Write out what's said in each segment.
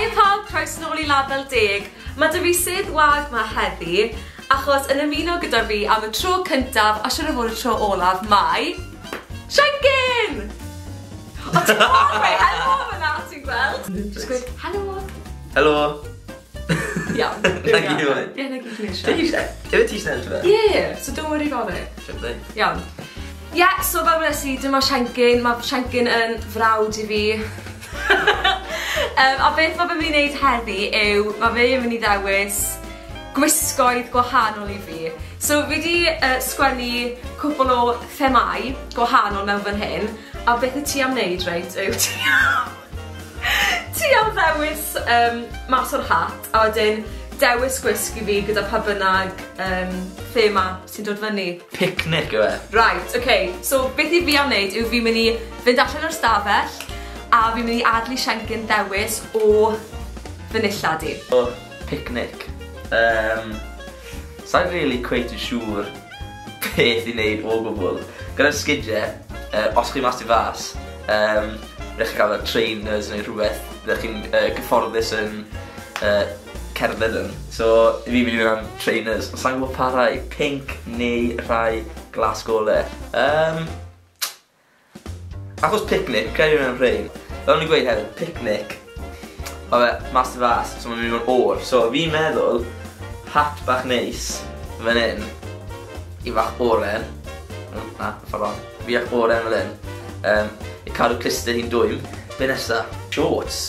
Hiya pawb, croes nôl i Label Deg. Mae dy fi sedd wag ma heddi, achos yn ymuno gyda fi am y tro cyntaf, a siwr o fod y tro olaf, mae... Shenkin! O ti'n gweld, helo fyna, ti'n gweld? Just gweud, helo! Helo! Iawn. Na gyd i fod. Ie, na gyd i eisiau. Dwi eisiau. Dwi eisiau eisiau eisiau. Ie, so don't worry about it. Sure thing. Iawn. Ie, yeah, so fel wnes i, dyma Siancyn. Mae Siancyn yn frawd i fi. um, a beth mae fe'n mynd i wneud heddi yw, mae fe yn mynd i ddewis gwisgoedd gwahanol i fi. So fi wedi uh, sgwennu cwpl o themau gwahanol mewn fan hyn, a beth y ti am wneud, reit, yw ti... Ti am ddewis yym mas o'r hat a wedyn dewis gwisg i fi gyda pa bynnag yym thema sy'n dod fyny? Picnic yw e. Reit ok so beth i fi am neud yw fi myn' i fynd allan o'r stafell a fi myn' i adel i Siencyn ddewis o fy nillad i. O picnic. Yym sai'n rili cweit yn siŵr. peth i neud o gwbwl. Gyda'r sgidie, yy os chi mas tu fas, yym rhaid chi cael fel trainers neu rhywbeth fyddech chi'n yy gyfforddus yn yy cerdded yn. So fi myn' i fyn' am trainers, ond sai'n gwbo pa rhai, pinc neu rhai glas gole? Yym. Achos picnic, credu mewn rhein. Fel o'n i'n gweud hefyd, picnic, oedd e mas y fas, so mae'n mynd i fod yn oer. So fi'n meddwl, hat bach neis, fan hyn, i fach oren, na, ffordd on, fi ac oren fel hyn, um, i cadw cluster hi'n dwym. Be nesa? Shorts.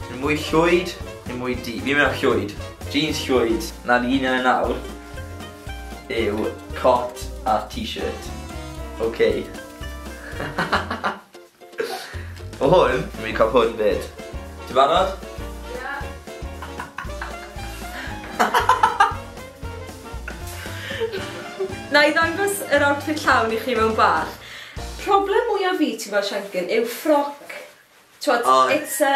Yn mwy llwyd, yn mwy di. Fi'n mynd am llwyd. Jeans llwyd, na fi un yn nawr. yw cot a t-shirt. Ok. O hwn, fi'n mynd i cael hwn fyd. Ti'n barod? Ia. Nai ddangos yr outfit llawn i chi mewn bach. Problem mwya fi ti'n gweld Siancyn yw ffroc T'wod it's a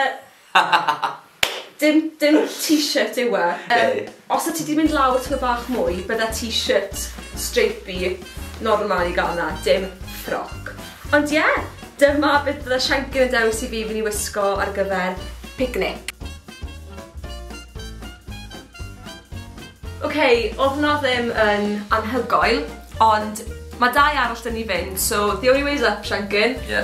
dim dim t-shirt yw e. Yym os o' ti 'di mynd lawr tymed bach mwy bydde t-shirt stripey normal i ga'l 'na dim ffroc. Ond ie dyma beth bydde Shanker yn dewis i fi fyn' i wisgo ar gyfer picnic. Ok odd hwnna ddim yn anhygoel ond ma' dau arall 'da ni fyn' so the only way is up Shanker. Ie.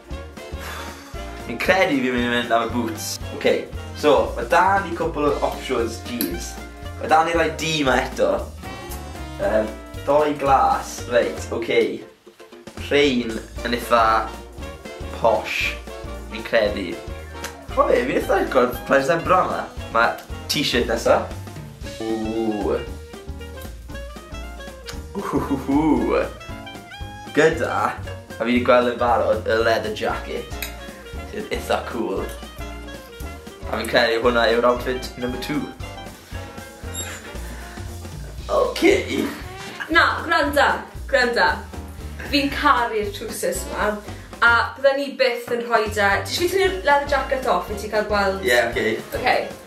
Fi'n credu fi'n mynd i fynd am y boots. Ok, so, mae da ni cwpl o options jeans. Mae da ni rai du ma eto. Um, doi glas, reit, ok. Rhain yn eitha posh, fi'n credu. O fe, fi'n eitha agor rhaid sa'n bra yma. Mae t-shirt nesa. Ooh. Ooh. Gyda, a fi 'di gweld yn barod, y leather jacket, sydd itha cŵl. A fi'n credu hwnna yw'r outfit number two. Ok. Na, gwranda, gwranda. Fi'n caru'r trowsus ma, a bydden i byth yn rhoi 'da... Ti jyst yn tynnu'r leather jacket off i ti cael gweld... Ie, ok. Ok.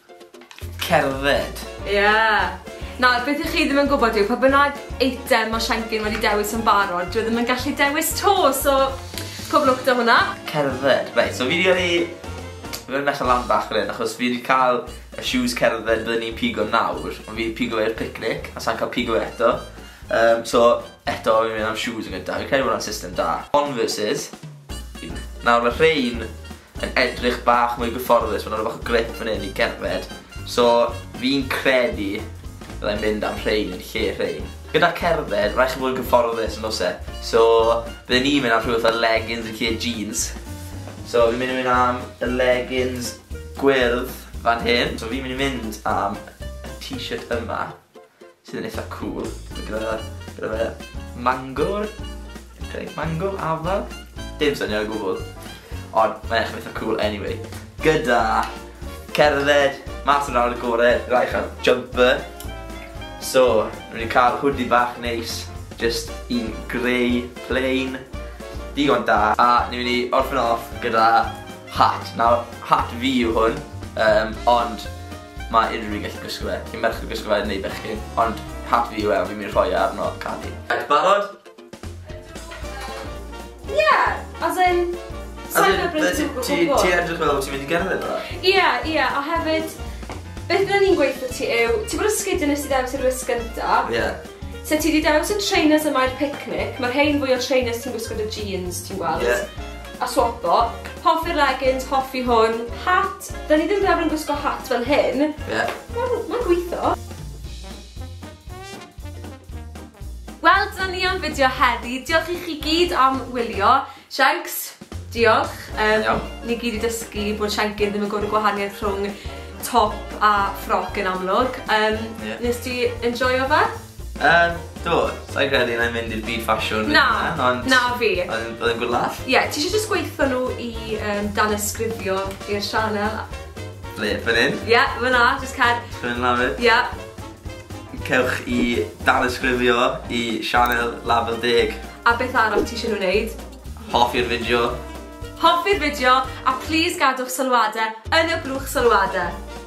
Cerdded. Ie! Nawr, beth y'ch chi ddim yn gwybod yw, pa bynnag eitem ma' Siencyn wedi dewis yn barod, dyw e ddim yn gallu dewis 'to, so pob lwc 'da hwnna. Cerdded. Reit, so fi 'di yrru fi myn' allan lan bach fan 'yn achos fi 'di ca'l y shoes cerdded bydden i'n pigo nawr, ond fi 'di pigo fe i'r picnic, a sai'n ca'l pigo fe eto. Yym, so, eto fi'n myn' am shoes yn gynta, fi'n credu bo' wnna'n system da. Converses. Nawr ma' rhein yn edrych bach mwy gyfforddus, ma' 'na rw fath o grip fan 'yn i gerdded, so fi'n credu fyddai'n mynd am rhein yn lle rhein. Gyda cerdded, raid chi fod yn gyfforddus yn o's e? So, bydden i'n mynd am rhywbeth fel leggings yn lle jeans. So fi'n mynd i mynd am y leggings gwyrdd fan hyn. So fi'n mynd i mynd am y t-shirt yma. sydd yn eitha cŵl. Gyda, gyda fe mangor, okay, mango, afal, dim syniad o gwbl. Ond mae'n eich eitha cŵl anyway. Gyda cerdded, mas yn awr y gore, rhaid cael jumper. So, rwy'n ni'n cael hwdi bach neis, just un grey, plain, digon da. A ni'n mynd i orffen off gyda hat. Nawr, hat fi yw hwn, um, ond Mae unrhyw un gallu gwisgo fe, chi'n merch yn gwisgo fe neu bechgyn, ond hat fi yw e, fi'n mynd i rhoi e arno cân fi. Reit, barod? Ie, as in, sa i'n hyfryd yn gwybod gwbl. Ti edrych fel bod ti'n mynd i gerdded dda? Ie, ie, a hefyd, beth byddwn ni'n gweithio ti yw, ti bod yn sgidio nes i ddewis i'r wisg gynta. Ie. So ti wedi dewis y trainers yma i'r picnic, mae'r rhain fwy o trainers ti'n gwisgo dy jeans, ti'n gweld? Ie. A swapo. Hoffi'r leggings, hoffi hwn. Hat, 'da ni ddim rili'n arfer gwisgo hat fel hyn. Ie. Wel, ma'n gweitho. Wel, dyna ni am fideo heddi. Diolch i chi gyd am wylio. Shanks, diolch. Yym... Iawn. ...ni gyd 'di dysgu bod shancy'n ddim yn gwbod y gwahaniaeth rhwng top a ffrog yn amlwg. Yym... Ie. ...nes ti enjoio fe? Yym, do, sa i'n credu na i'n mynd i'r byd ffasiwn Na, ond... na fi. Oedd oedd e'n good laugh. Ie, ti isie jyst gweutho nhw i yym danysgrifio i'r sianel? Ble, fan 'yn? Ie, fan 'na, jyst cer... Sgrolio i lawr? Ie. Cewch i danysgrifio i sianel Lafur Deg. A beth arall ti isie nhw wneud? Hoffi'r fideo. Hoffi'r fideo, a plîs gadwch sylwade yn y blwch sylwade.